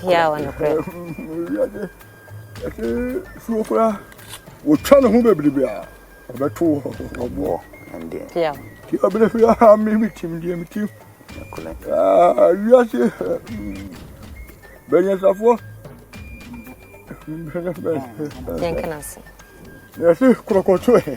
Bia wɔ nokorɛ. Wɔtwa ne ho bebrebe a ɔbɛto ɔboɔ. Bia wɔ. Ti abere fi aha mi mi tim deɛ mi tim. Wiase bɛnyɛnsafoɔ. Yɛnkana se. Yɛse korɔkɔtɔ ɛ.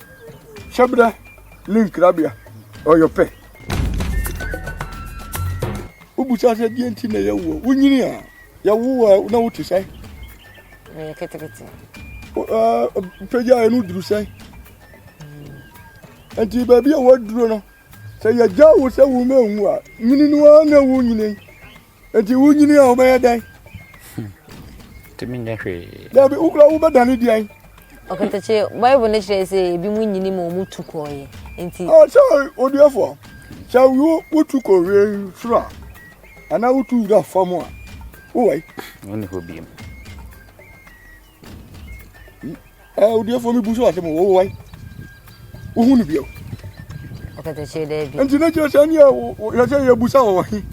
Hyɛbrɛ ne nkrabea ɔyɔ pɛ. Wobisa sɛ deɛ nti na yɛwo a, wonyini a yɛwo a na wote sɛ? Meyɛ ketekete. Pagya ɛno duru sɛ? Nti baabi a wɔaduro no, sɛ yɛgya wo sɛ wo mɛnwu a, nyini no ara na ɛwo nyini. Enti wonyini a wobɛyɛ dɛn? Tumi nyɛ hwee. Dabi, wokura wobɛdane deɛn? Ɔkatakye, Bible no kyerɛ sɛ ebi mu nyini ma wɔn tu kɔɔeɛ. Enti. Oh, sɛ odiɛfoɔ, sɛ wo wotu kɔ wei soro a, anaa wotu wura fam a, wowɔ yi. Wonni hɔ biem. ɛ odiɛfoɔ mi bu so asɛm o wɔwɔ wae wohu no bio ɔkatakyire dɛ bi nti na kyerɛ sɛ ne yɛ sɛ yɛbusa wɔ wɔ he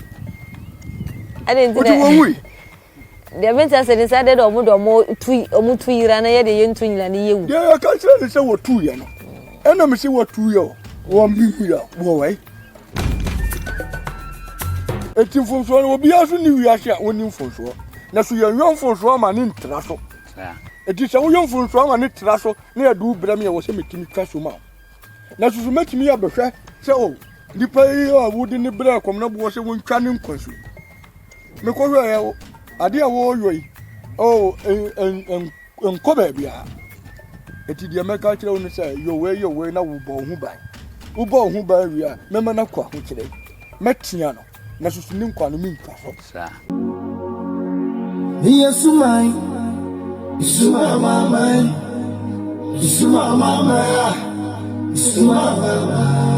ɛne nti dɛ wɔwui deɛ mente asɛ ne sɛ dɛ dɛ ɔmo de ɔmo tu ɔmo tu yira na yɛ de yɛntu nyina ne yɛwu deɛ yɛka kyerɛ ne sɛ wɔtu yɛ no ɛna me se wɔtu yɛ o wɔmbi hu yɛ o wɔwɔ wae Eti mfomsoɔ no obiara so ni wiase a wɔnni mfomsoɔ na so yɛnyɔ mfomsoɔ ama ne ntra so eti sɛ woyɔ mfomsoɔ ama ne tra so na yɛde wo brɛ me a wɔ sɛ metumi twa so ma na soso mɛtumi yɛ bɛhwɛ sɛ o oh, nipa yi a wode ne brɛ kɔm na boɔ sɛ wontwa ne nkwa so mekɔhwɛɛ adeɛ a wɔyɔ yi o oh, nkɔ baabiara. Enti deɛ mɛka akyerɛ wo no sɛ yɛ wei yɛ wei na wobɔ wo ho ban. Wobɔ wo ho ban wie a, mɛma no akɔ ahokyerɛ. Mɛtea no na susu ne nkwa no mentwa so. Saa. Meyɛ suman, suman maman, suman maman, suman maman.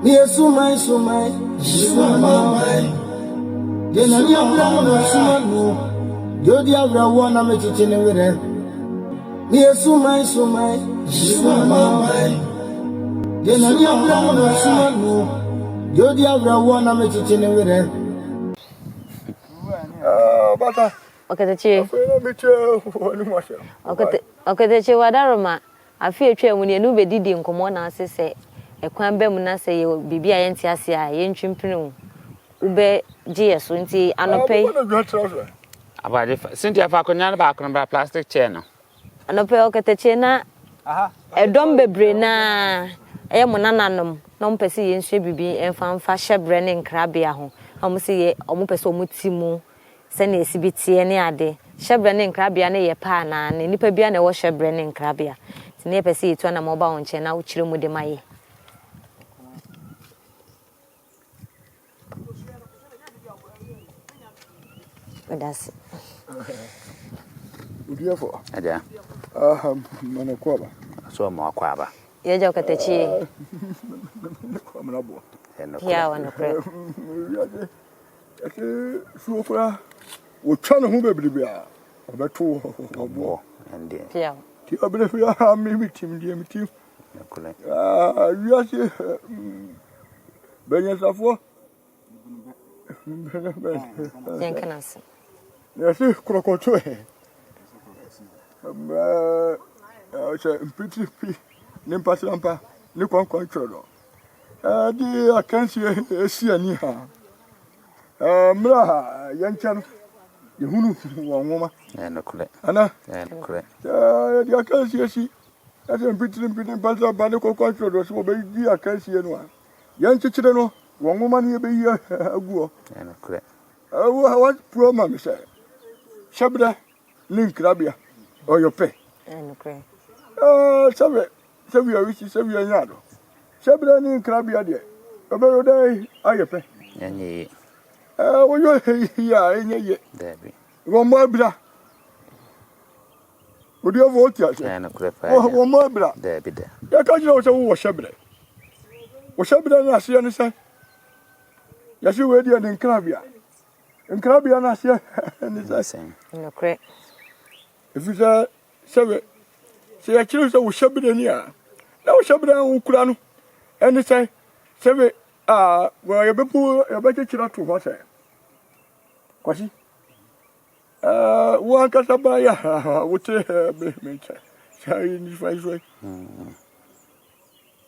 Meyɛ suman suman sumaman deɛ n'ani abira no na mesoma no deɛ ɔdi awerɛhoɔ na mekyekye ne werɛ meyɛ suman suman sumaman deɛ n'ani abira no na mesoma no deɛ ɔdi awerɛhoɔ na mekyekye ne werɛ Okatachi Okatachi wadaroma Afe a etwaam no, yɛne wo bedidii nkɔmmɔ na ase sɛ kwan ba mu na sɛ yɛwɔ biribi a yɛnte ase a, yentwe mpene wo. Wobɛgye yɛn so. Enti anɔpa yi. Abɔade fa. Cynthia, fa akonnwa no baako no bra, plastic chair no. Anɔpa yi, ɔkatakyie na ɛdɔm bebree no ara yɛ mo nananom na wɔpɛ sɛ yensua biribi mfa mfa hyɛbrɛ ne nkrabea ho, na wɔse yɛ wɔpɛ sɛ wɔte mu sɛnea esi bi teɛ ne ade. Hyɛbrɛ ne nkrabea no yɛ pɛ anaa? Na nnipa biara na ɛwɔ hyɛbrɛ ne nkrabea? Nti na yɛpɛ sɛ yetu anammɔn ba wo nkyɛn na wokyerɛ mu de ma yɛn. Meda ase. Oduafo. Agya. Aha, mana kɔ aba. So mo akɔ aba. Yɛgya ɔkatakyi yi. Mana boa. Ɛno kɔ. Yɛ a wɔn korɛ. Wiase. Ɛte suo koraa. Wɔtwa ne ho bebrebe a, ɔbɛto wo hɔ. Ɔboɔ ɛndeɛ. Piaw. Ti abere hwe aha me me tim deɛ me tim. Nokorɛ. Ah, wiase bɛnyansafoɔ. Yɛn kana ase. Yɛse korɔkɔto ɛ. Mmaa, ɔhyɛ mpitiri pi ne mpasrampa ne kwankwan kyerɛ no. de akansie asi ani ha. Mmerɛ a yɛnkyɛ no, yɛhunu wɔn nwoma. Ana? Yɛde akansie si ɛsɛ mpitirimpiti mpɛsɛ ba ne kɔkɔ nsorɔdɔ so wɔbɛdi akansie no a yɛnkyekyere no wɔn nwoma no yɛbɛyi aguɔ. Ɛwɔ ha wɔpuro ma me sɛ hyɛbrɛ ne nkrabea ɔyɔ pɛ sɛbɛ sɛbia wisi sɛbia nya do sɛbɛ ne nkrabea deɛ ɔbɛyɔ dɛ ayɛ pɛ woyɔ hehi a ɛnyɛ yɛ wɔmmɔ abira odiɛfo wote ase wɔmmɔ abira yɛka kyerɛ wo sɛ wowɔ hyɛberɛ wo hyɛberɛ no aseɛ ne sɛ yɛse wei deɛ ne nkrabea Nkrabea no aseɛ ne sɛn? Nokorɛ. Ɛfiri sɛ sɛ sɛ yɛkyerɛ sɛ wo hyɛberɛ ni a na wo hyɛberɛ a wokura no ɛne sɛn sɛ me a yɛbɛpo yɛbɛkyekyere ato hɔ sɛ kwasi wo ankasa baayɛ wote me me nkyɛ sɛ nifa yi so yi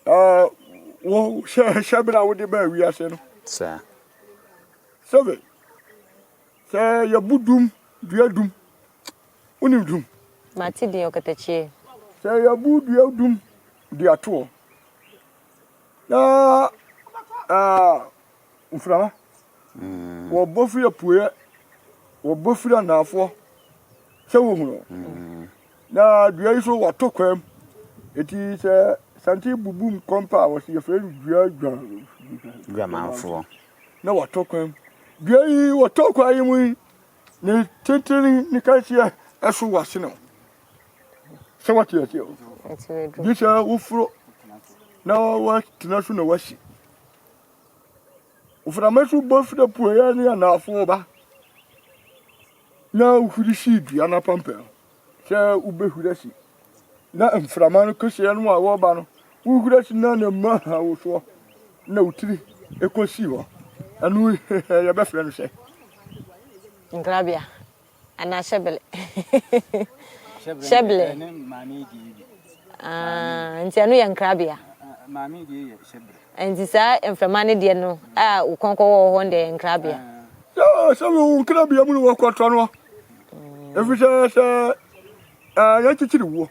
Na wo hyɛ hyɛbena a wode baa wiase no. Saa. Sɛbe, sɛ yɛbo dum, dua dum, wonim dum? Mate din ɔkatakyie. Sɛ yɛbo dua dum de atoɔ, na mframa, mm. wɔbɔ firi apueɛ, wɔbɔ firi anaafoɔ, sɛ wɔhunu. Mm. Na dua yi so wɔato kwaam. Enti sɛ santen bubum kɔm pɛ a, wɔsi yɛfrɛ no dua dwa dwamanfoɔ. Na wɔato kwaam. Dua yi wɔtɔ kwa yi mu yi, ne tentene ne kanseɛ ɛso wɔasene o. Sɛ wɔte aseɛ o. Gye sɛ woforo na wɔatena so na wɔasi. Mframa so bɔ firi apueɛ ne anaafoɔ ba. na wohuri si dua no apampam sɛ wobɛhuri asi, na mframa no kɛseɛ no a wɔba no, wohuri asi na ne mma ha wo soɔ, na wo tiri kɔsi hɔ. Ɛno yɛbɛfrɛ no sɛ. Nkrabea anaa hyɛbele. Hyɛbele. Nti ɛno yɛ nkrabea. Maame die yɛ hyɛbele. Ɛnti saa mframa no deɛ no a wo kɔn kɔ wɔ hɔ no deɛ ɛyɛ nkrabea. Sɛ sɛ wo nkrabea mu no wɔ kɔtɔ no ɛfiri sɛ sɛ yɛkyekyere wuo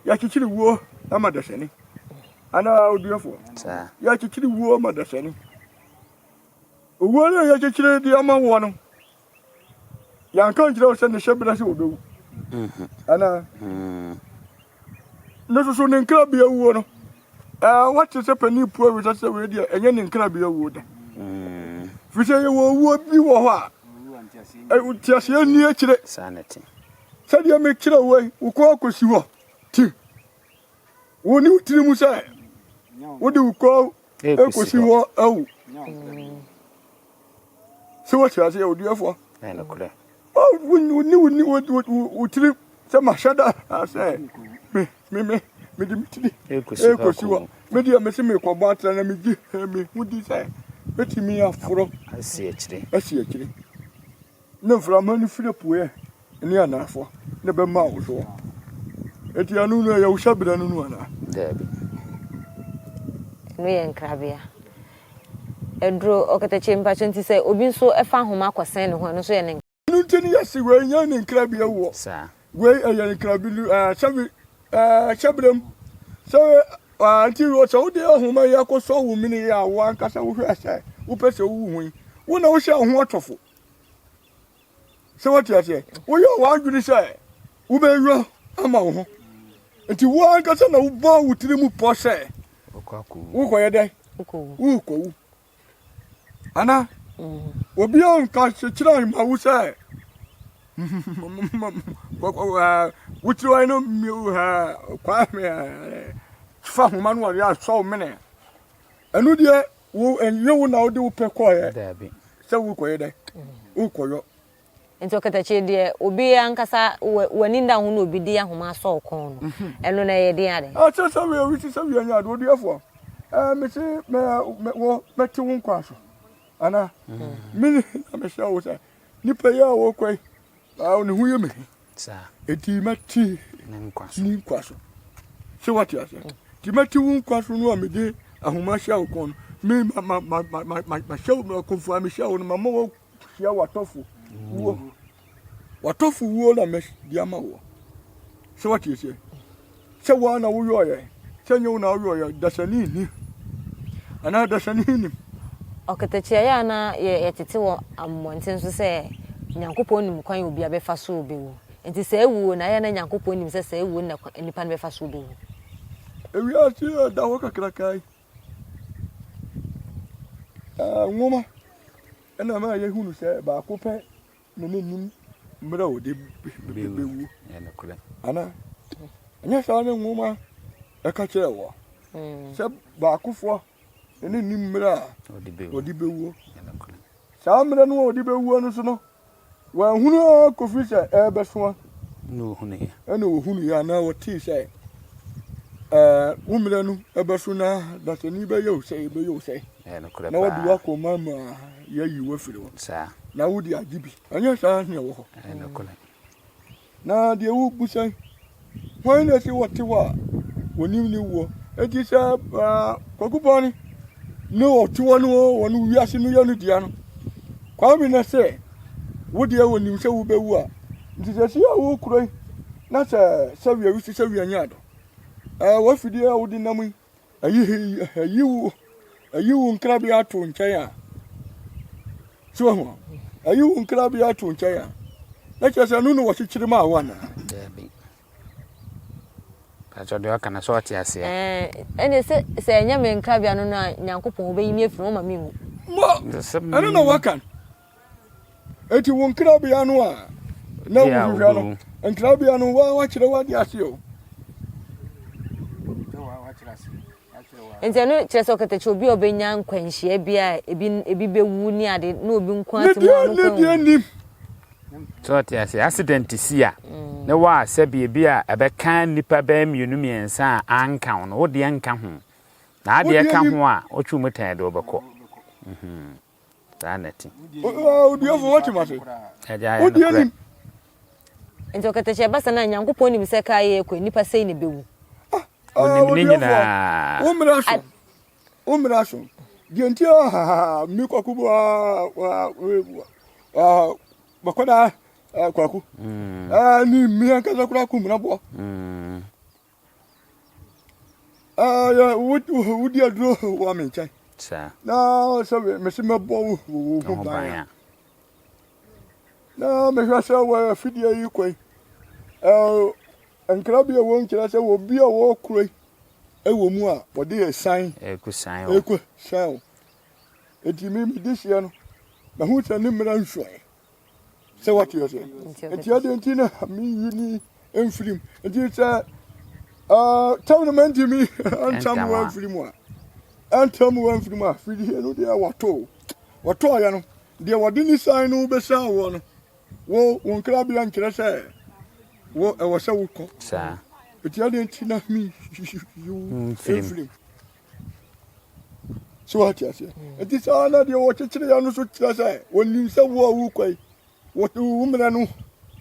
yɛkyekyere wuo ma dasani anaa oduafoɔ yɛkyekyere wuo ma dasani owuo no yɛkyekyere de ama woɔ no Yɛanka nkyerɛ wo sɛ ne hyɛberɛ sɛ ɔbɛwu mhm. anaa mhm. ne nso so ne nkrabea wuo no wate sɛ panin pua wi sɛ wei deɛ ɛnyɛ ne nkrabea wuo da mhm. firi sɛ yɛwɔ owuo bi wɔ hɔ a nteaseɛ nni akyire sɛdeɛ mekyerɛ wei wo kɔ akɔsi hɔ ti wo ne wo tiri mu sɛ wode wo kɔ ɛkɔsi hɔ awu sɛ wote aseɛ odiɛfoɔ wone wo tiri sɛ mahyɛ da sɛ mede metiri ɛkɔsi hɔ medeɛ mese mekɔbɔ atrɛ na megye mehu di sɛ mɛtumi aforɔ asi akyiri Ne mframa no firi apueɛ ne anafoɔ na ɛbɛma wo soɔ. Enti ɛno no ɛyɛ wo hyɛberɛ no no anaa? Daabi. Ɛno yɛ nkrabea. Ɛduro ɔkatakyie mpakyɛ nti sɛ obi nso ɛfa ahoma akɔsɛn ne ho ɛno nso yɛ ne nkrabea. Ɛno nti ne yɛse wei nyɛ ne nkrabea wɔ. Saa. Wei ɛyɛ ne nkrabea no ɛɛ sɛbi ɛɛ hyɛberɛ mu. Sɛ ɛɛ nti sɛ wode ahoma yi akɔsɔ wo mene yi a wo ankasa wohwɛ sɛ wopɛ sɛ wowu ho yi wo na wohyɛ wo ho atɔfo. sɛ wote aseɛ woyɛ w'adwene sɛ wobɛnwa ama wo ho nti wo ankasa na wobɔ wo tiri mu pɔ sɛ wokɔyɛ dɛn wokɔwu ana obia nka kyekyerɛ ma wo sɛ wokyerɛwae no kwa fa homa no ɔde asɔ wo mene ɛno deɛ Wo ɛnyɛ wo na wode wo pɛ kɔɔɛ sɛ wo kɔyɛ dɛ wo kɔyɔ. Nti ɔkatakyire deɛ obi ankasa w'ani nda ho na obi de ahoma asɔ wo kɔn no ɛno no ɛyɛ den adɛn. Ɛsɛ sɛ wia wi sisɛ wia nyɛ ade ɔduɛfoɔ ɛɛ mese mɛ mɛ wɔ mɛte wo nkwa so anaa mene na mehyɛ wo sɛ nipa yi a wɔkɔ yi ne ho yɛ me he. Enti mɛte ne nkwa so. Sɛ wate aseɛ mm. nti mɛte wo nkwa so no a mede ahoma hyɛ wo kɔn me mahyɛ wo akomfoɔ a mehyɛ wo no mama woahyia w'atɔfo wuo mm. w'atɔfo wuo na mɛde ama woɔ sɛ wate aseɛ Sɛ woa na woyɔeɛ, sɛ nyɛ wo na woyɔeɛ a, dasani nni anaa dasani nnim. Ɔketekyeaeɛ a na yɛtete wɔ mmɔnten so sɛ Nyankopɔn nim kwan a obiara bɛfa so bɛwu. Enti saa wuo no, ɛyɛ a na Nyankopɔn nim sɛ saa wuo no na nnipa no bɛfa so bɛwu. Ewiase yi a ɛda hɔ kakraka yi, nwoma na ɛma yɛhunu sɛ baako pɛ na n'anim mmerɛ a ɔde bɛwu anaa ɛnyɛ saa ne nwoma ɛka kyerɛ wɔ hmm. sɛ baakofoɔ na n'anim mmerɛ a ɔde bɛwuo saa mmerɛ no a ɔde bɛwuo no so no wɔahunu ara kɔfiri sɛ ɛrebɛsoa ɛna wɔhunuiɛ anaa wɔtee sɛ wo mmerɛ no ɛbɛso na dasani bɛyɛ wo sɛ ɛbɛyɛ wo sɛ Ɛyɛ nokorɛ na wode paa. w'akoma mu a yɛayi wo afiri hɔ, Saa. na wode agye bi, ɛnyɛ saa na ɛwɔ hɔ? Ɛyɛ nokorɛ. Na deɛ wobisa yi, hwan na ɛse wɔte hɔ a wɔnim ne woɔ? Enti sɛ ah, Kwaku Bɔne ne ɔte hɔ no o, wɔn wiase no yɛ no dea no, Kwame na sɛ wo deɛ wɔnim sɛ wobɛwu a, nti sɛ si a wokura yi, na sɛ sɛwia wisi sɛwia nyaado, eh, w'afidie a wode nam yi, Ayi wo nkrabea ato nkyɛn a, so ho ayi wo nkrabea ato nkyɛn a, na kyerɛ sɛ ɛno na wɔkyekyere maa wo anaa? Daabi. Pàtó deɛ ɔka na sɛ ɔte aseɛ. Ɛne sɛ sɛ ɛnyɛ me nkrabea no no a Nyankopɔn wobɛyi me afiri hɔ ma menwu. Mo, ɛno na wɔka no. Enti wo nkrabea no a na wohwehwɛ no, nkrabea no waa wakyerɛ wade ase o. Nti ɛno kyerɛ sɛ ɔkatakyɛ obi a ɔbɛnya nkwanhyia bi a ebi ebi bɛwu ne ade na obi nko ate mu a ɔno kwan wu. nim. Sɛ ɔte ase accident si a mm. ne wɔ a sɛ biribi a ɛbɛka nnipa bɛyɛ mmienu mmiɛnsa a anka ho no wodeɛ nka ho na adeɛ ka ho a ɔtwe mu tɛn de ɔbɛkɔ. saa na ɛte. Odiefo, wote m'ase? Wode anim. Enti ɔkatahyia basa no a Nyankopɔn nim sɛ kaa yɛ kɔ nnipa sɛi na ɛbɛwu. Onim ne nyinaa. Wo mmara so. Wo mmara so. Deɛ nti a me kwaku bu bɛkɔda kwaku ne mmea nkasa kora ku mmara boɔ. wodi aduro wɔ me nkyɛn na sɛ mese mɛbɔ wo wo ho ban a na mehwɛ sɛ wɔ afidie yi kɔ yi nkra bi a ɛwɔ nkyerɛ sɛ wɔ bi a wɔkoro yi ɛwɔ mu a wɔde ɛsan ɛkɔsan wo ɛti me mede hyeɛ no mahu sɛ ne mmara nsuae Sɛ wate aseɛ. Nti ɛdeɛ nti na meyi ni mfirim. Nti sɛ tam no mantimi ntam wa mfiri mu a ɛntam wa mfiri mu a fidie no deɛ wɔtoo wɔtɔɔyɛ no deɛ wɔde ne san no bɛsaa woɔ no wo wo nkrabea nkyerɛ sɛ wo ɛwɔ sɛ wokɔ saa ɛti adeɛ nti na meyi wo mfirim So wate aseɛ? Hmm. Eti saa na deɛ wɔkyekyere yɛ no so kyerɛ sɛ wɔnim sɛ wo a wokɔ yi wɔte wo mmerɛ no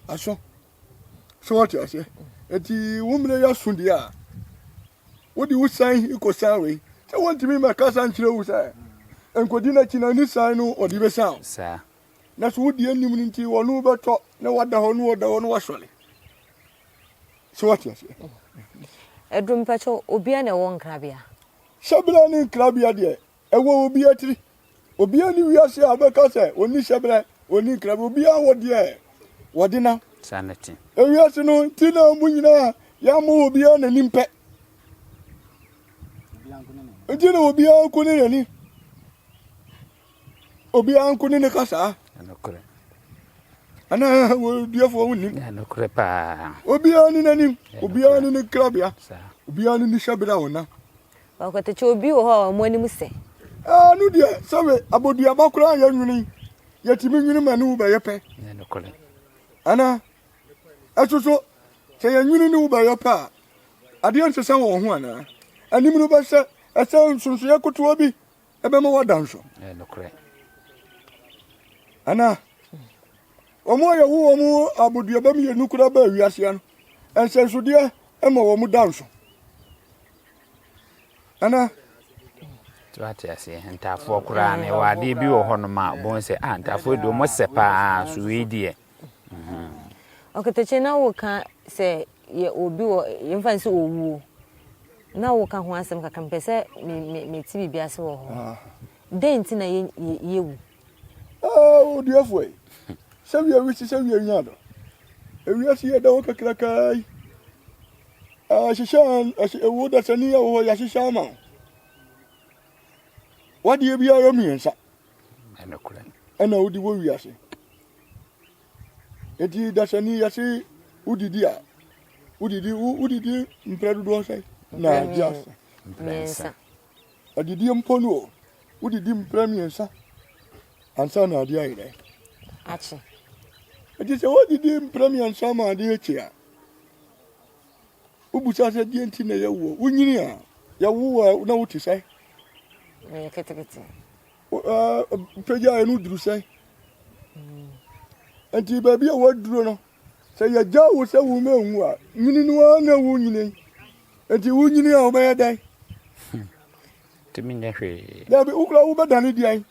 aso. So wate aseɛ? Eti wo mmerɛ yɛ aso deɛ a wode wo san kɔsan wei sɛ wɔntumi mmɛkasa nkyerɛ wo sɛ nkɔdi n'akyi na ne san no ɔde bɛsan wo. Saa. Na so wodi anim no nti wɔne wobɛtɔ na wada hɔ na wɔda hɔ na wasɔre. So wate aseɛ? Ɛduru mpɛkyɛ obiara na ɛwɔ nkrabea. Hyɛbrɛ ne nkrabea deɛ ɛwɔ obiara tiri. Obiara ne wiase a ɔbɛka sɛ ɔni hyɛbrɛ, ɔni nkrabea. Obiara wɔ deɛ wɔde nam. Saa na ɛte. Ewiase no ti na wɔn nyinaa yɛamɔ obiara n'anim pɛ. Nti na obiara nko ne n'ani. obiara nko ne ne kasaa ɛnokorɛ anaa wɔduafoɔ ho nim ɛnokorɛ paa obiara ne n'anim obiara ne ne krabea obiara ne ne hyɛberɛ a wɔnam ɔkɔtɛkyɛ obi wɔ hɔ a wɔn anim sɛ ɛɛ no deɛ sɛbe abɔduaba koraa yɛ nwene yɛtumi nwene ma ne wo bɛyɛ pɛ ɛnokorɛ anaa ɛso so sɛ yɛnwene ne wo bɛyɛ pɛ a adeɛ nsesɛ wɔ ho anaa anim no bɛsɛ ɛsɛ nsonsoeɛ kotoa bi ɛbɛma wɔada nso. Ɛyɛ nokorɛ. Ana wɔn a yɛwo wɔn aboduaba mmienu koraa baa wiase no, nsɛnsodeɛ ma wɔn da nso. Ana. tí wàá te ase ntaafoɔ koraa na ɛwɔ adeɛ bi wɔ hɔnom a wɔn sɛ a ah, ntaafoɔ deɛ wɔn sɛ paa so wei deɛ. Ɔkatakyie na wo ka sɛ yɛ obi wɔ yɛ nfa nsi owuo na wo ka ho asɛm kakra mpɛ sɛ me me me ti biribi ase wɔ hɔ dɛn nti na yɛ yɛ yɛ wu. Aa oduafoɔ yi sɛ wia wisi sɛ wia nya do ewia si yɛ da hɔ kakrakaa yi ahyehyɛ ahye ewo dasani yɛ wɔ hɔ yɛahyehyɛ ama wo wadeɛ biara mmiɛnsa. na wodi wɔ wiase. Enti dasani yɛse wodidi a, wodidi wodidi mprɛ dodoɔ sɛ na agye asa? Mmiɛnsa. Adidie mpo no o, wodidi mprɛ mmiɛnsa ansa na adeɛ ayɛ dɛ? Akye. Enti sɛ wodidi mprɛ mmiɛnsa ma adeɛ akye a, Wobisa sɛ, Deɛn nti na yɛwo wo? Wonyini a, yɛwo wo a, na wote sɛn? Meyɛ ketekete. Wopagyaeɛ no woduru sɛn? Enti baabi a woaduro no, sɛ yɛgya wo sɛ wo ma nwu a, nyini no ara na wonyini. Enti wonyini a, wobɛyɛ dɛn? Tumi nyɛ hwee. Dabi, wokora wobɛdane deɛn?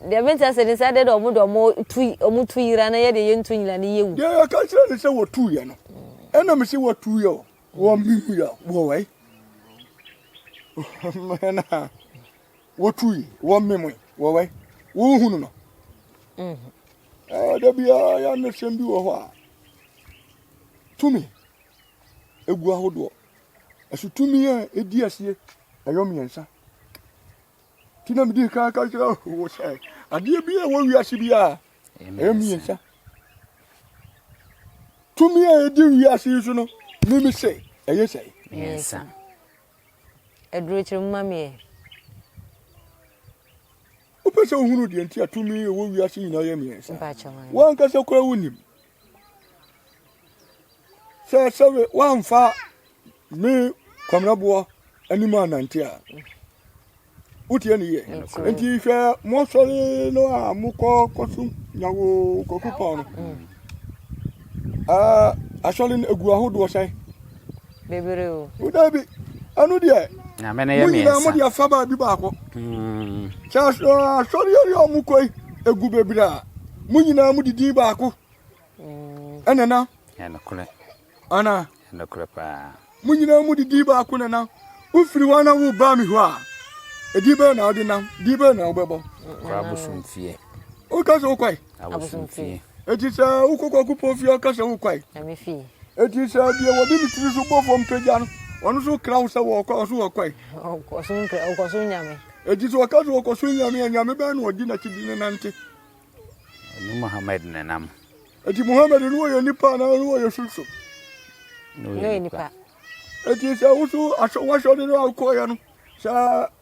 Deɛ menkyɛ se ne sɛ dee na ɔmo de ɔmo tu ɔmo tu yera na yɛdeɛ yɛntu nyera na yɛwu. Deɛ yɛka kyerɛ no sɛ wɔtuuiɛ no, ɛna mese wɔtuuiɛ o, wɔ mehuiɛ a, wɔ wai? Hena a wɔtuui wɔ memoe, wɔ wai? Wohunu no? Da biara yɛ anosɛm bi wɔ hɔ a tumi gu ahodoɔ. Ɛso tumi a ɛdi asie ɛyɔ mmiɛnsa. Nti na mede kan ka kyerɛ wo sɛ adeɛ bi a ɛwɔ wiase bi a ɛyɛ mmiɛnsa tumi a ɛdi wiase yi so no mimi sɛ ɛyɛ sɛ mmiɛnsa adurokyerɛ mu ma meɛ wopɛ sɛ wohunu deɛ nti a tumi ɛwɔ wiase nyinaa yɛ mmiɛnsa woankasa koraa wonim sɛ sɛ woamfa me kwamerɛboɔ anim anante a wotie ne yɛ nti hwɛ mosɔre no a mokɔ kɔsom nyawo kwaku pɔn no asɔre no ɛgu ahodoɔ sɛn Bebree o. O dabi, ɛno deɛ. Nyame no yɛ mmiɛnsa. Mo nyinaa mo deɛ fa baabi baako. Hmm. Sɛ asɔreɛ yɛ ɔmo kɔ yi, egu bebree a, mo nyinaa mo didi baako. Hmm. Ɛna na. Ɛna korɛ. Ana. Ɛna korɛ paa. Mo nyinaa mo didi baako na na. Wofiri hɔ na wo ba mi hɔ a, edi bɛyɛ na ɔde nam, di bɛyɛ na ɔbɛbɔ. Kɔ abosomfie. O ka sɛ o kɔ yi. abosomfie. Eti sɛ wokɔ kwaku pɔn fie ɔka sɛ wokwae. Na me fie. Eti sɛ deɛ wɔde ne tiri so bɔ fam pagya no, ɔno so kra wo sɛ wɔkɔ ɔso wɔkwae. Ɔkɔ so nyame. Eti sɛ ɔka sɛ ɔkɔ so nyame a, nyame bɛn na ɔdi n'akyi de ne nante? Ɔne Muhammad na nam. Eti Muhammad no wɔyɛ nipa anaa no wɔyɛ sunsun? No yɛ nipa. Eti sɛ woso asɔ wɔasɔ de no a wokɔɔyɛ no, sɛ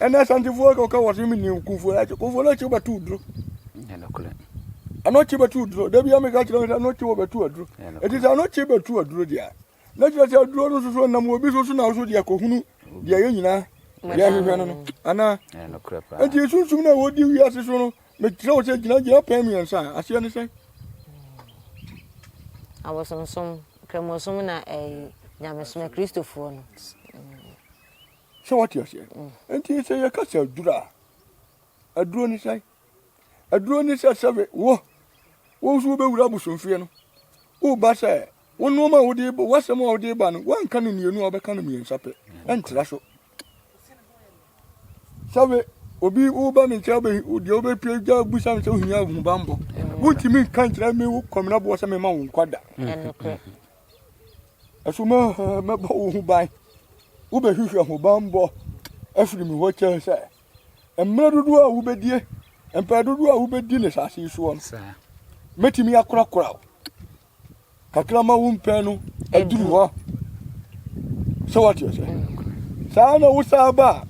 ɛnna santifoɔ kɔka wɔ so mene okunfoɔ akyi kunfoɔ no akyi wobɛto duro ɛno kyi bɛto duro da bia meka kyerɛ sɛ ɛno kyi wɔbɛto aduro ɛti sɛ ɛno kyi bɛto aduro deɛ na kyerɛ sɛ aduro no soso nam obi so so na so deɛ kɔhunu deɛ yɛ nyinaa deɛ hwehwɛ no no anaa ɛti sunsum no a wɔdi wiase so no mekyerɛ wo sɛ gyinagyina pɛn mmiɛnsa a aseɛ ne sɛ abosonsom kramosom na ɛyi nyamesom kristofoɔ no Sɛ wate aseɛ? Nti sɛ yɛka sɛ aduro a, aduro ne sɛn? Aduro ne sɛ sɛbe wo, wo nso wobɛwura abosomfie no, woba sɛ wo nnoɔma a wode ba, w'asɛm a wode ba no, woanka no mmienu a wobɛka no mmiɛnsa pɛ, ɛntra so. Sɛbe obi woba me nkyɛn deɛ wobɛpie gya busa me sɛ wohia ahobammɔ, wontumi nka nkyerɛ me wo kɔmenaboɔ sɛ mema wo nkwa da. Ɛso mɛbɔ wo ho ban. Wobɛhwehwɛ ho bammɔ afiri me hɔ kyɛn sɛ mmerɛ dodoɔ a wobɛdie, mpɛn dodoɔ a wobɛdi ne asase soɔ no. Mɛtumi akorakora wo kakra ma wo mpɛn no aduru hɔ. Sɛ wate ɔsɛ. Saa na wo saa ba a,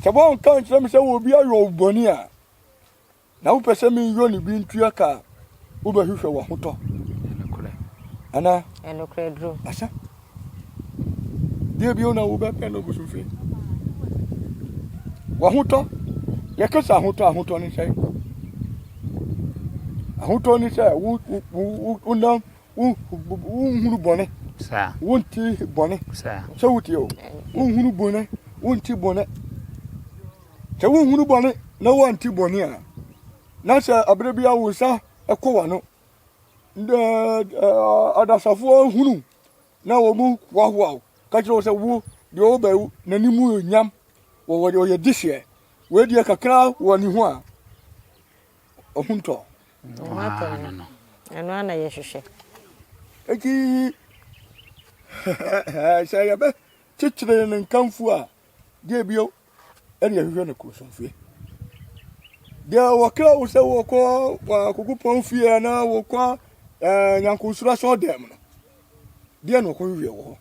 sɛ wɔnka nkyerɛ me sɛ wɔ obi ayɔ wo bɔne a, Na wopɛ sɛ meyɔ ne bi ntua ka a, wobɛhwehwɛ w'ahotɔ. Ɛnokorɛ. Ana? Ɛnokorɛ duro. Asa. Deɛ bio na wobɛpɛ no bosofe. W'ahotɔ. Yɛka sɛ ahotɔ ahotɔ ne sɛ ahotɔ ne sɛ wo wo wo nam wo nhunu bɔne. Saa. Wonti bɔne. Saa. Sɛ wotie o. Wonhunu bɔne. Wonti bɔne. Sɛ wonhunu bɔne na wɔnte bɔne a, na sɛ abere biara wo nsa kɔ w'ano. Adasafoɔ hunu na wɔn hoahoa wo ka kyerɛ wo sɛ wo deɛ ɔwɔ bɛwu n'anim nyam wɔwɔ ɔyɛ dehyɛ wei deɛ kakra wɔ ne ho a ɔho ntɔ. Ɛno ana yɛhwehwɛ. Eti sɛ yɛbɛ kyekyere ne nkamfo a, deɛ bio ɛne ɛhwehwɛ no kɔnsɔnfrɛ deɛ wɔka wo sɛ wɔkɔ akokopɔn fie anaa wɔkɔ eh, nyankosoro asɔɔ dɛm no deɛ na ɔkɔhwehwɛ wɔ hɔ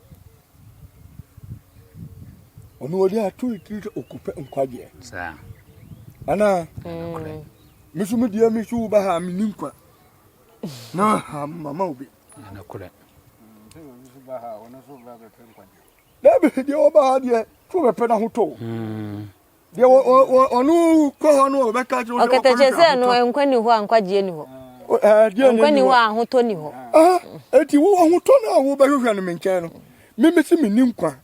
ɔno ɔde ato ne tiri sɛ ɔkɔpɛ nkwagyeɛ anaa me so medeɛ me so woba ha menni nkwa na ha mama wo bi Dabi, deɛ ɔba ha deɛ turo bɛpɛ no ahotɔ o. Hmm. Deɛ ɔno kɔ hɔ no ɔbɛka kyerɛ wo ɔkɛtɛ kyerɛ sɛ no nkwa ni hɔ a nkwagyeɛ ni hɔ. Nkwa ni hɔ a ahotɔ ni hɔ. Eti wo ahotɔ no a wobɛhwehwɛ no me nkyɛn no, mimi si menni nkwa.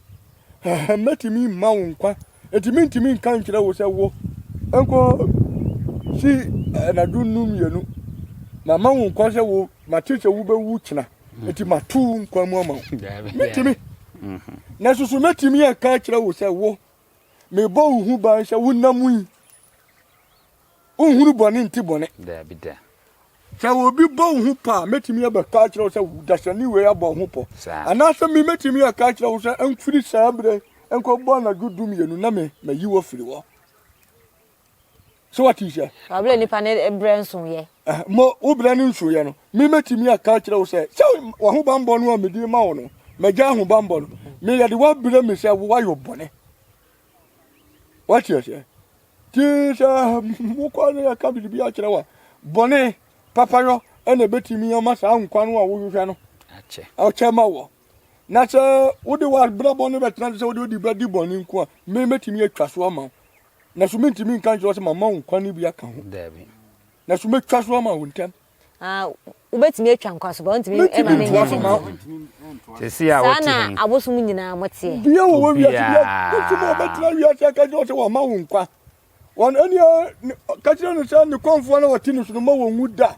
Mɛtumi mma wo nkwa. Eti mentumi nka nkyerɛ wo sɛ wo nkɔ si anadwo nnum mmienu. Mama wo nkwa sɛ wo mate sɛ wobɛwu kyena. mm. nti mato wo nkwa mu ama wo mɛtumi mm-hmm. na soso mɛtumi aka akyerɛ wo sɛ wo mebɔ wo ho ban sɛ wonam yi wonhunu bɔne nti bɔne sɛ obi bɔ wo ho pɔ a mɛtumi abɛka akyerɛ wo sɛ dasani wei abɔ wo ho pɔ anaasɛ me mɛtumi aka akyerɛ wo sɛ mfiri saa berɛ nkɔbɔ anadwo du mmienu na me mayi wɔ firi hɔ so wate sɛ ɔbrɛ nnipa ne brɛ nsoeɛ eh, mo wo brɛ ne nsoeɛ no memɛtumi aka akyerɛ wo sɛ sɛ wahobanbɔ no a mede ma wo no magya ahobanbɔ no meyɛde woabrɛ me sɛ woayɔ bɔne wate aseɛ ti sɛ mokɔ ne yɛka biribi akyerɛ wo a bɔne papayɔ ɛna ɛbɛtumi ama saa nkwa no a wohwehwɛ no akyɛ ma wɔ na sɛ wode w'abrabɔ no bɛtena sɛ wode wode bɛdi bɔne nko a memɛtumi atwa so ama wo Na so mintumi nka nkyerɛ wo sɛ mama wo kwan bi aka ho? Daabi. Na so metwa so ama wo ntɛm? Ah, wobɛtumi atwa nkwa so, ba wontumi ɛma ne Mentumi ntoa so ma wo. Sɛsi a wote he. na abosom nyinaa moteɛ. Bia wɔ wɔ wiase bia wotumi a ɔbɛtena wiase aka kyerɛ wo sɛ wama wo nkwa. Wɔn ɛneɛ ka kyerɛ no sɛ ne kɔmfoɔ no a ɔte ne so no mma wɔnwu da.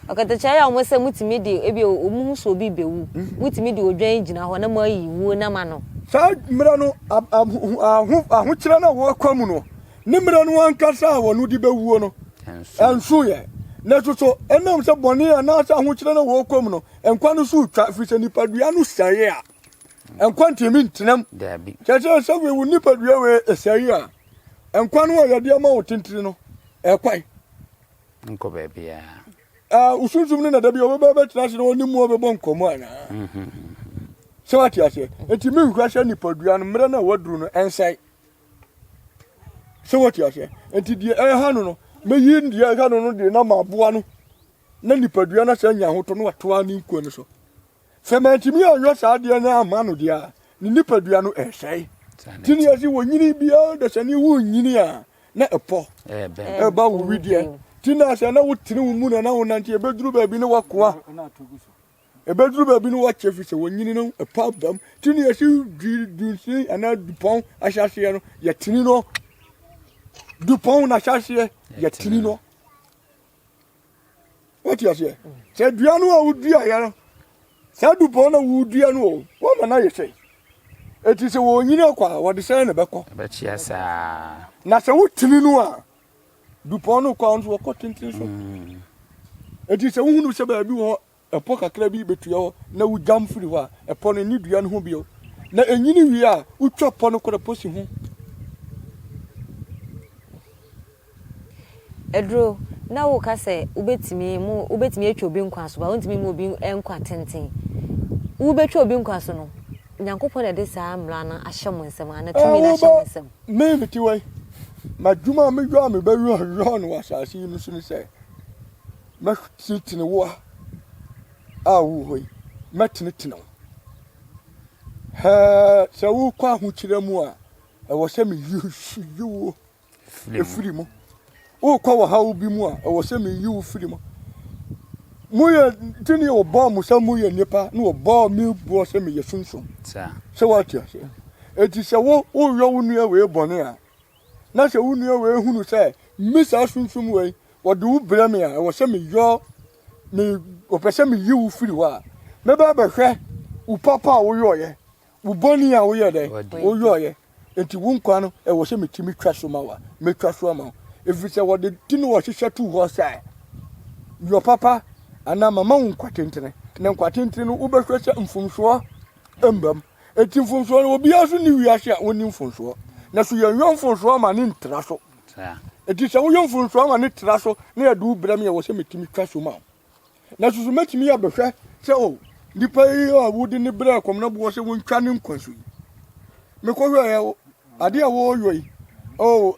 Ɔkatakyie ayɛ wɔn sɛ motumi de ebi wɔn ho sɛ obi rebewu. Motumi de odwan gyina hɔ na moayi wuo nam ano. Saa mmerɛ no, ahokyerɛ no a wɔkɔ mu no, ne mmerɛ no ankasa a wɔn de bɛwuo no, ɛnso yɛ. Nanso so ɛnam sɛ bɔne anaasɛ ahokyerɛ no a wɔkɔ mu no, nkwa no so retwa, ɛfiri sɛ nipadua no sɛe a, nkwa ntumi ntenam. Kyerɛ sɛ sɛ wei wo nipadua wei ɛsɛe a, nkwa no a yɛde ama wo tentene no, ɛkwan. Nkɔ baabiara. Ah, wo sunsum no na da bi ɔbɛba bɛtena ase na ɔne mu ɔbɛbɔ nkɔmmɔ anaa? Mhm. Sɛ wate aseɛ. Enti menhwɛ sɛ nipadua no mmerɛ no a waduru no ɛnsɛe. Sɛ wate aseɛ. Enti deɛ ɛha no no, mɛyi deɛ ɛha no no deɛ na maboa no na nipadua no asan nya ahotɔ no watoa ne nkwa no so. Sɛ mantumi anyɔ saa adeɛ no amma no deɛ a, ne nipadua no ɛresɛe. Ti ne yɛsi wɔnyini biara dasani wo nyini a na ɛpɔ ɛba wo wideɛ. Ti na sɛ na wotene wo mu na na wonante ɛbɛduru baabi ne wakoa. Ɛbɛduru baabi ne wakyɛ fi sɛ wɔnyini no ɛpɔ abam. Ti ne yɛsi dunsin anaa dupɔn ahyɛaseɛ no yɛtene no. Dupɔn no ahyɛaseɛ yɛtene no. Wote aseɛ? Sɛ dua no a woduaeɛ no, saa dupɔn na wodua no o, wɔma no ayɛ sɛ ɛti sɛ wɔnyini akɔ a, wɔde sɛn na ɛbɛkɔ? Ɛbɛkyea saa. Na sɛ wotini no a, dupɔn no kɔ a nso wɔkɔ tenten so. Ɛti mm. sɛ wohunu sɛ baabi wɔ hɔ Ɛpɔ kakra bi betua hɔ na wuguan firi hɔ a, ɛpɔ no nni dua no ho bio. Na enyini wie a, wutwa pɔ no korɛ pɔ si ho. Aduro, na woka sɛ wobɛtumi mo wobɛtumi atwa obi nkwa so, ba wontumi mu obi nkwa tenten. Wobɛtwa obi nkwa so no, Nyankopɔn na ɛde saa mmara no ahyɛ mo nsam anaa tumi no ahyɛ mo nsam. Me mete hɔ yi, m'adwuma a meyɔ a mebɛyɔ no wɔ asase yi no so ne sɛ, Mɛtenetene wo a wowɔ hɔ yi, mɛtenetene wo. Sɛ worekɔ ahokyerɛ mu a, ɛwɔ sɛ meyi wo firi mu. Worekɔ wɔ haw bi mu a, ɛwɔ sɛ meyi wo firi mu. Moyɛ tini wɔbɔɔ mo sɛ moyɛ nnipa na wɔbɔɔ me boɔ sɛ meyɛ sunsum. Sɛ woate aseɛ. Enti sɛ woyɔ wo nua wei bɔne a, na sɛ wo nua wei hunu sɛ me saa sunsum wei wɔde wo brɛ me a ɛwɔ sɛ meyɔ me wɔpɛ sɛ meyi wo firi hɔ a mɛba bɛhwɛ wo papa a woyɔɔyɛ wo bɔne a woyɛ dɛ woyɔɔyɛ nti wo nkwa no ɛwɔ sɛ metumi twa so ma wa mɛtwa so ama wo ɛfiri sɛ wɔde ti no wɔhyehyɛ tu hɔ sɛ yɔ papa anaa mama wo nkwa tentene na nkwa tentene no wobɛhwɛ sɛ mfomsoɔ mbam Enti mfomsoɔ no, obiara so nni wiase a ɔnni mfomsoɔ. Na so yɛnyɔ mfomsoɔ ma ne ntra so. Enti sɛ woyɔ mfomsoɔ ma ne tra so na yɛde wo brɛ me a, wɔ sɛ metumi twa so ma wo. Na so so mɛtumi abɛhwɛ sɛ o, nipa yi a wode ne brɛ kɔm na boɔ sɛ wontwa ne nkwa so yi, mekɔhwɛɛ o, adeɛ a wɔyɔ yi, o,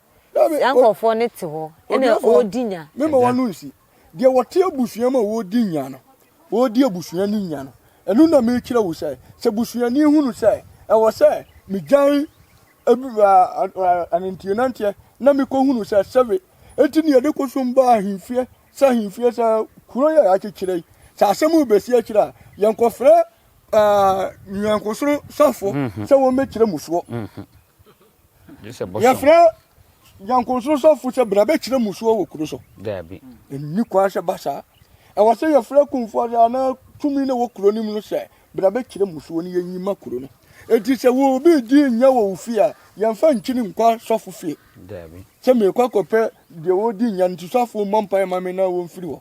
Saa nkurɔfoɔ no te hɔ na wɔredi nya. Mema w'ano nsi. Deɛ ɔte abusua mu a ɔredi nya no, ɔredi abusua no nya no, ɛno na merekyerɛ wo sɛ, sɛ busuani hunu sɛ ɛwɔ sɛ megyae ananteɛnanteɛ na mekɔhunu sɛ sɛbe, enti na yɛde kɔsom baa ahemfie sɛ ahemfie sɛ kuro yɛ akyekyerɛ yi, sɛ asɛm rebɛsi akyire a, yɛnkɔfrɛ nyankosono sɔfoɔ sɛ wɔmmɛkyerɛ mu soɔ. yɛfrɛ nyankonsono sɔfo sɛ bra bɛkyerɛ musuo wɔ kuro so ɛnni kwan sɛ ba saa ɛwɔ sɛ yɛfrɛ kumfoɔ sɛ anaa tumi na wɔ kuro no mu no sɛ bra bɛkyerɛ musuo no yɛnyi ma kuro no ɛti sɛ wɔ obi di nyɛ wɔ wo fie a yɛmfa nkyini nkɔ sɔfo fie sɛ meekɔ akɔpɛ deɛ wɔdi nya no nti sɔfo mmɔ mpaeɛ ma me na wɔmfiri hɔ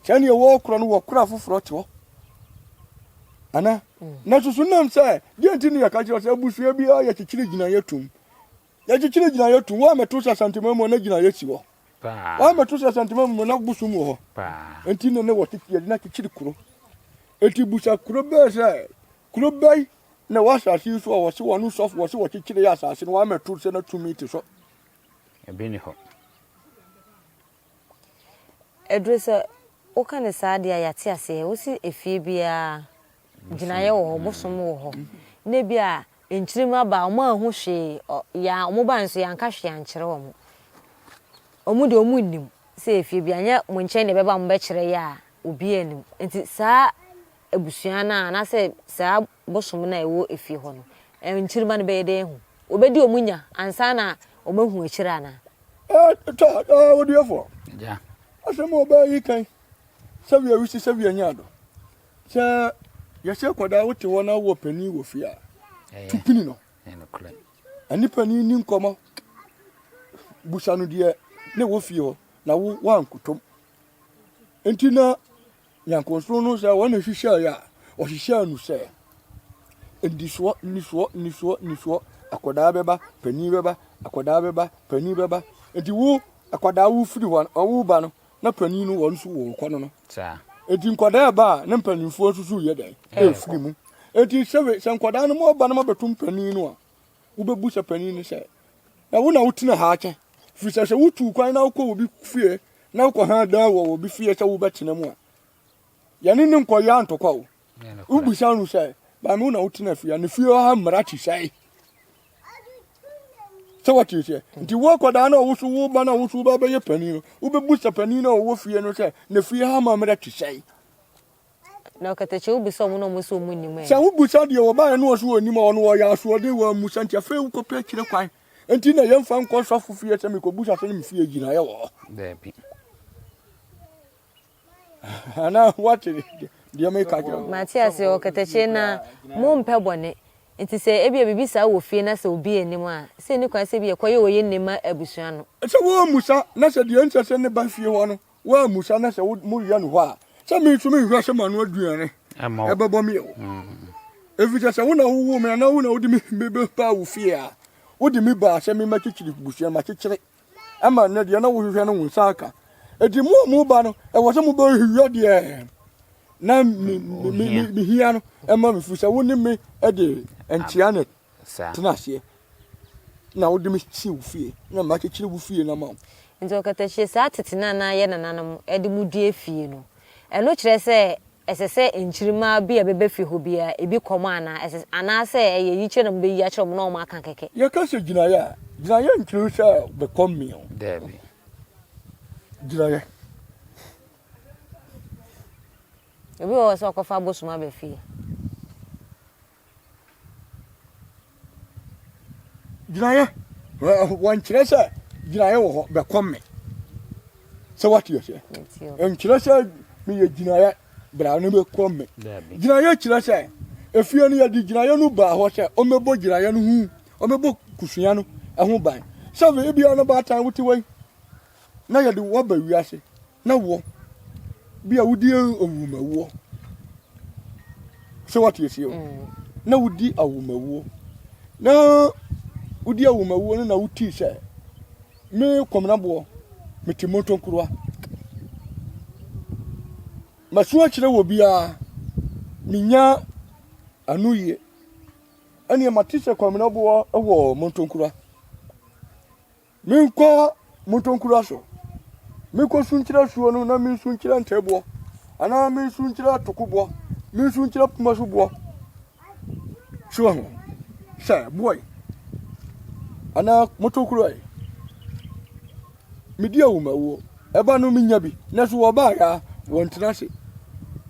Sɛ nea ɛwɔ korɔ no wɔ kora foforɔ te hɔ. Ana? Mm. Na susu nam sɛ, deɛ nti ne yɛka kyerɛ sɛ abusua biara yɛkyekyere gyinaeɛ tom. Yɛkyekyere gyinaeɛ tom, woammɛto sɛ asantema mu na gyinaeɛ si hɔ. Woammɛto sɛ asantema mu na bosom wɔ hɔ. Enti ne ne wɔ yɛde no akyekyere kuro. Enti busa kuro bɛɛ sɛ, kuro bɛyi na ɛwɔ asase yi so a wɔse wɔn sɔfo wɔse wɔkyekyere asase no, woammɛto sɛ na tumi te so. Ebi ne hɔ. Aduru sɛ woka no saa deɛ a, yɛate aseɛ. Wose efie biara gyinaeɛ wɔ hɔ, bosom wɔ hɔ. Na ebi a nkyire mu aba a, wɔn anhu hwee. Yɛ a wɔbaeɛ nso yɛanka hwee ankyerɛ wɔn. Wɔn deɛ wɔn nnim sɛ efie biara, nyɛ mo nkyɛn na ɛbɛba a mobɛkyerɛ yɛ a, obiara nnim. Nti saa abusua no a anaasɛ saa bosom no a ɛwɔ efie hɔ no nkyirimma no bɛyɛ dɛn ahu? Wɔbɛdi wɔn nya ansa na wɔahu akyire anaa? Tɔ, ɔdiefoɔ, asɛm a ɔbaa yi kan sɛ wia wisi sɛ wia nyaa do. Sɛ yɛhyɛ kɔdaa wote hɔ na wowɔ panin wɔ fie a, tu pini no. Ɛne panin ni nkɔmmɔ. Busa no deɛ na ɛwɔ fie hɔ na wo woankotom. Nti na Nyankontrom no sɛ wɔn na hyehyɛɛ yɛ a, ɔhyehyɛɛ no sɛ nnisoɔ nnisoɔ nnisoɔ nnisoɔ akwadaa bɛba panin bɛba akwadaa bɛba panin bɛba nti wo akwadaa wo firi hɔ ɔwo ba no na panin no wɔn nso wɔn kɔ no no nti nkwadaa ɛba a ne mpanimfoɔ nso so yɛ dɛn ɛfiri mu nti sɛ sɛ nkwadaa no mo ɔba no mo abɛto mpanin no a wobɛbu sɛ panin no sɛ, na wo na wotena ha akyɛ, firi sɛ sɛ wotu kwan na wokɔ obi fie na wokɔ ha dan wɔ obi fie sɛ wobɛtena mu a, yɛne ne nkɔyɛ antokwa o. Wobisa no sɛ, maame wo na wotena fie a, ne fie hɔ ha mmara te sɛe? sɛ wɔte sɛ nti woakɔdaa na ɔwo so wo ba na wo so wo ba bɛyɛ panin no wobɛbu sɛ panin na ɔwɔ fie no sɛ na fie ha ma mmerɛ te sɛe Na ɔkatakyie wo bisa ɔmo na ɔmo se ɔmo nnim ɛ. Sɛ wo bisa deɛ wɔbaeɛ na ɔse ɔnnim a, ɔno ɔyɛ asoɔden wammu sɛ nti afei wo kɔpɛ akyire kwan nti na yɛnfa nkɔ sɔfo fie sɛ mekɔ busa sɛ ne me fie gyinaeɛ wɔ hɔ. Daabi. Anaa wate deɛ meka kyerɛ wo. Mate aseɛ ɔkatakyie na mo mpɛ bɔne nti sɛ ebia biribi saa wɔ fie na sɛ obi nnim a sɛ ɛni kwan sɛ ebia ɛkɔyɛ ɔyɛ nne ma abusua no. Sɛ wɔammusa na sɛ deɛ ɛnsɛ sɛ ne ba fie hɔ no Woammisa na sɛ moyɛ no hɔ a, sɛ me nso menhwɛ sɛ m'ano aduane bɛbɔ me o. Mm. Efisɛ sɛ wo na wowoo me anaa wo na wode me bɛbaa wo fie a, wode me baa sɛ me mɛkyekyere busua ma kyekyere ama nnɛ deɛ na wohwehwɛ no wo nsa aka. Enti mo a moba no, ɛwɔ sɛ mobɛhwehwɛ deɛ na mehia no ma me, efisɛ wo ne me de nkyea ne saa. Tena ase na wode me si wo fie na makyekyere wo fie no ama wo. Enti ɔkata hyia saa tete no a na yɛn nananom de mu dua fie no. Ɛno kyerɛ sɛ ɛsɛ sɛ nkyirimma bi a ɛbɛba fie hɔ biara, ebi kɔm anaa? Ɛsɛ, anaasɛ ɛyɛ yikyerɛ na mubeyi akyerɛ wɔn na wɔaka kɛkɛ? Yɛka sɛ gyinaeɛ a, gyinaeɛ nkyerɛ sɛ bɛkɔm me o. Daabi. Gyinaeɛ. Obi wɔ hɔ sɛ ɔkɔfa abosom aba fie. gyinaeɛ wɔnkyerɛ sɛ gyinaeɛ wɔ hɔ bɛkɔ me sɛ wate aseɛ nkyerɛ sɛ meyɛ gyinaeɛ bra no bɛkɔ me gyinaeɛ kyerɛ sɛ efie no yɛde gyinaeɛ no baa hɔ sɛ ɔmɛbɔ gyinaeɛ no ho ɔmɛbɔ kusua no ɛho ban sɛ ebia no baatan wote wei na yɛde wo aba wiase, na wɔ bi a wodi awomawuo sɛ wate asie o mm. na wodi awomawuo na wodi awomawuo no na wotii sɛ me kɔmnaboɔ mete montɔnkuroa masu akyerɛ wɔ biara menya ano yie ɛneɛ mate sɛ kɔmnaboɔ wɔ montɔnkura Menkɔ mo ntonkura so, menkɔsu nkyerɛ asuo no na mensu nkyerɛ ntɛɛboɔ, anaa mensu nkyerɛ atokoboɔ, mensu nkyerɛ poma so boɔ. So wɔ ho sɛ boɔe anaa motokorɔe. Medi awomawuo. Ɛba no menya bi, na so wɔbaeɛ a wɔntena ase.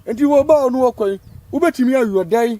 Enti wɔbaa no wɔkɔe. Wobɛtumi ayɔ dɛn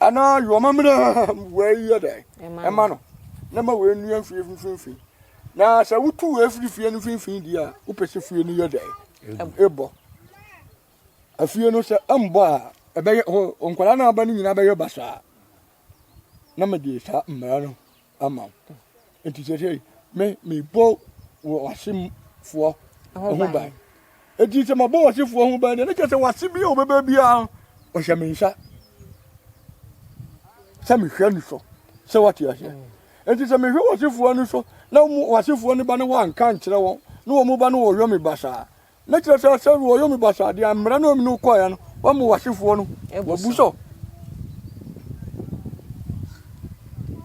anaa yoma mmerɛm wei yɛ dɛ ɛma no na ma wei nnua mfie mfimfini na sɛ wotu wei firi fie no mfimfini di a wopɛ sɛ fie no yɛ dɛ ɛbɔ afie no sɛ ɛmbɔ a ɛbɛyɛ nkwadaa no aba no nyinaa bɛyɛ basaa na mede saa mmara no ama wo. Enti seesei me mebɔ w'asefoɔ ho ban. Enti sɛ mabɔ w'asefoɔ ho ban deɛ, ne kyerɛ sɛ w'ase bi a ɔbɛba biara ɔhyɛ me nsa sɛ mehwɛ no so sɛ wate aseɛ. Enti sɛ mehwɛ w'asefoɔ no so na w'asefoɔ no ba no wɔanka nkyerɛ wɔn na wɔn ba no wɔyɔ me basaa na kyerɛ sɛ sɛ no ɔyɛ omi basa adeɛ a mmerɛ na omi no kɔɛ no wɔma w'asefoɔ no wɔbu sɔ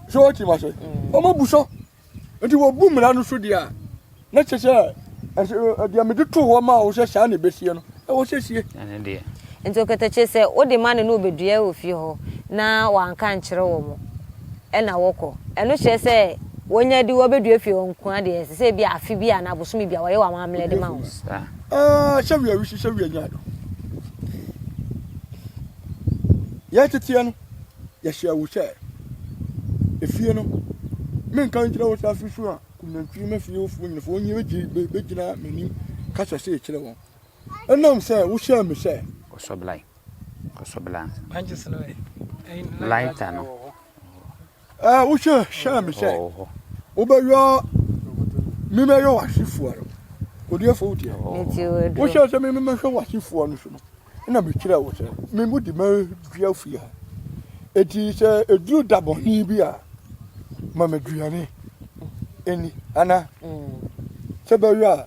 sɛ wɔte ma sɛ wɔma bu sɔ nti wɔbu mmara no so deɛ a na kyerɛ sɛ deɛ mede too hɔ ma wo sɛ saa na ɛbɛsie no ɛwɔ sɛ sie nti ɔkatakyire sɛ wode ma no ne wobɛdua wɔ fie hɔ na wanka nkyerɛ wɔ mo na wɔkɔ. Ɛno kyerɛ sɛ wɔnya di wɔbɛdua fie hɔ nko ara deɛ, ɛsɛ sɛ ebi afe bi anaa bosome bi a wɔyɛ wɔn amammerɛ de ma wɔn. Ah, sɛ wia wisi, sɛ wia nya do. Yɛ teteɛ no, yɛhyɛ wo sɛ, efie no, menka nkyerɛ wo sɛ asusu a kunantwi ma fie wofoɔ nyina, foɔ nyina bɛgyina m'anim kasa sɛ kyerɛ wɔn. Ɛnam sɛ wohyɛɛ me sɛ. Ɔsɔblae. Lighter no. Ɛɛ wohwɛ hyɛ me sɛ wobɛyɔ memɛyɔ w'asefoɔ no odiɛfoɔ wodeɛ wohyɛ sɛ mememɛhwɛ w'asefoɔ no so no ɛna mekyerɛ wo sɛ memu de madua fie ha ɛti sɛ ɛduru da bɔne bi a ma maduane ɛni ana sɛ bɛyɔ a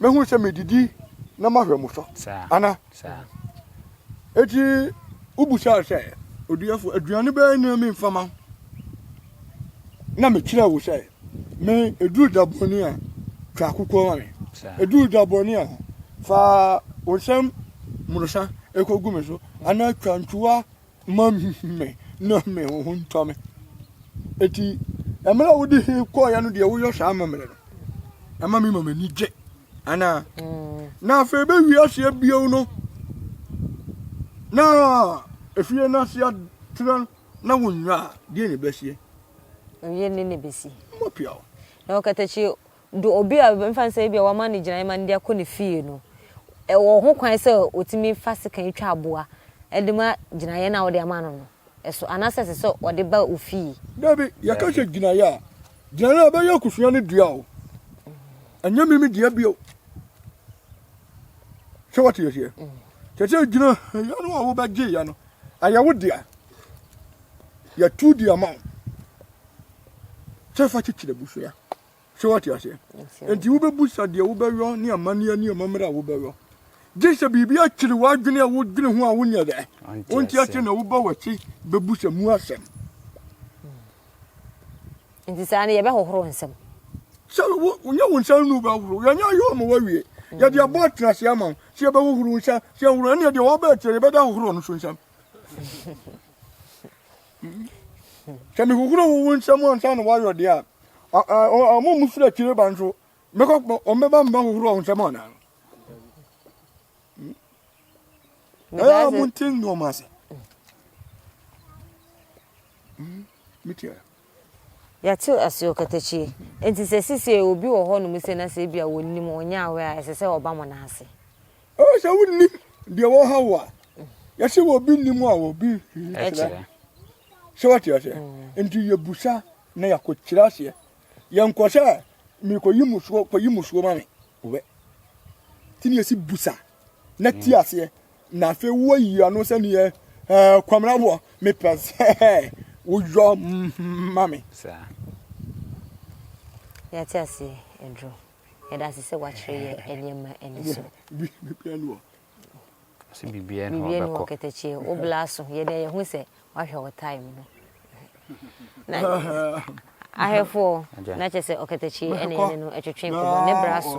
mɛhunu sɛ medidi na mahwɛ mo so ana? Enti wobisaa sɛ, Odiyɛfo, aduane bɛn na memfa ma? Na mekyerɛɛ wo sɛ, me eduru da bɔne a, twa akokoɔ ma me. Eduru da bɔne a, fa wo nsam mmorosa kɔgu me so, anaa twa ntuwa Mma me na me ho ho ntɔ me. Eti mmerɛ a wode he kɔɔeɛ no deɛ woyɔ saa amammerɛ no, ɛma me ma m'ani gye anaa? Mm. Na afei bɛwie aseɛ bio no na efie no aseɛ atrɛ no na wonwa a, deɛ na ɛbɛseɛ? Ɛyɛ ne na ɛbɛsi. Mmɔpia o. Na ɔkatakyi Do obi a yɛmfa no sɛ ebia wɔama no gyinae ma no de akɔ ne fie no, ɔwɔ ho kwan sɛ otumi fa sekan twa aboa de ma gyinaeɛ no a wode ama no no so anaasɛ ɛsɛ sɛ ɔde ba wo fie? Dabi, yɛka sɛ gyinaeɛ a, gyinaeɛ no ɛbɛyɛ akusua no dea o, ɛnyɛ me me dea bio. Sɛ wate aseɛ? Kyɛ sɛ gyinaeɛ no a wobɛgyeeɛ no, ɛyɛ wo dea. Yɛtu de ama wo sɛ fa kyekyere abusua. So wate aseɛ? Enti wobɛbusa deɛ wobɛyɔ ne amanneɛ ne amammerɛ a wobɛyɔ. Gye sɛ biribi akyere w'adwene a wodwene ho a wonyɛ dɛ. Wonte aseɛ na woba w'akyi bɛbusa mu asɛm. Nti saa no yɛbɛhohoro nsɛm. Sɛ wonyɛ wo nsa nnu bɛhohoro, yɛnyɛ ayɔ ama wawie. Yɛde abɔ atena ase ama wo. Sɛ yɛbɛhohoro nsa, sɛ yɛhohoro ɛnneɛ deɛ wɔbɛɛ kyerɛ yɛbɛda ahohoro no so nsɛm. Sɛ mehohoro wo wo nsam ansa na woayɔ deɛ a, wɔn a wɔfiri akyire ba nso, wɔbɛba mma hohoro wo nsam anaa? Ɛyɛ a monte nnoɔma ase. Metia. yɛate ase ɔkatakyie nti sɛ sisi obi wɔ hɔ nom sɛ na sɛ ebi a wɔnim ɔnyɛ awɛ a ɛsɛ sɛ ɔba mo n'ase Ɔwɔ sɛ wonim deɛ wɔha wo a yɛse wɔ obi nim a wɔ obi kyerɛ sɛ wate aseɛ mm. nti yɛbusa na yɛakɔkyerɛ aseɛ yɛnkɔ sɛ mekɔyi musuo kɔyi musuo ma me wɛ nti ne yɛsi busa na ti mm. aseɛ na afei woayi ano sɛ neɛ eh, kwamraboɔ mepɛ sɛ woyɔ ma me yɛte aseɛ aduro Yɛda ase sɛ woakyerɛ yɛn nneɛma ani so. Ɔse biribiara ni hɔ ɔbɛkɔ. Biribiara ni hɔ kɛtɛkyeɛ wo bla so yɛ dɛ yɛhu sɛ woahwɛ wo time no. Ahwɛfoɔ na kyɛ sɛ ɔkɛtɛkyeɛ ɛna yɛne no ɛtwetwe nkɔmmɔ ne bra so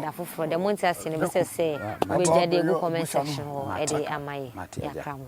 da foforɔ deɛ monte aseɛ no bɛsɛ sɛ wobɛgya de agu comment section hɔ ɛde ama yɛ yɛakra mo.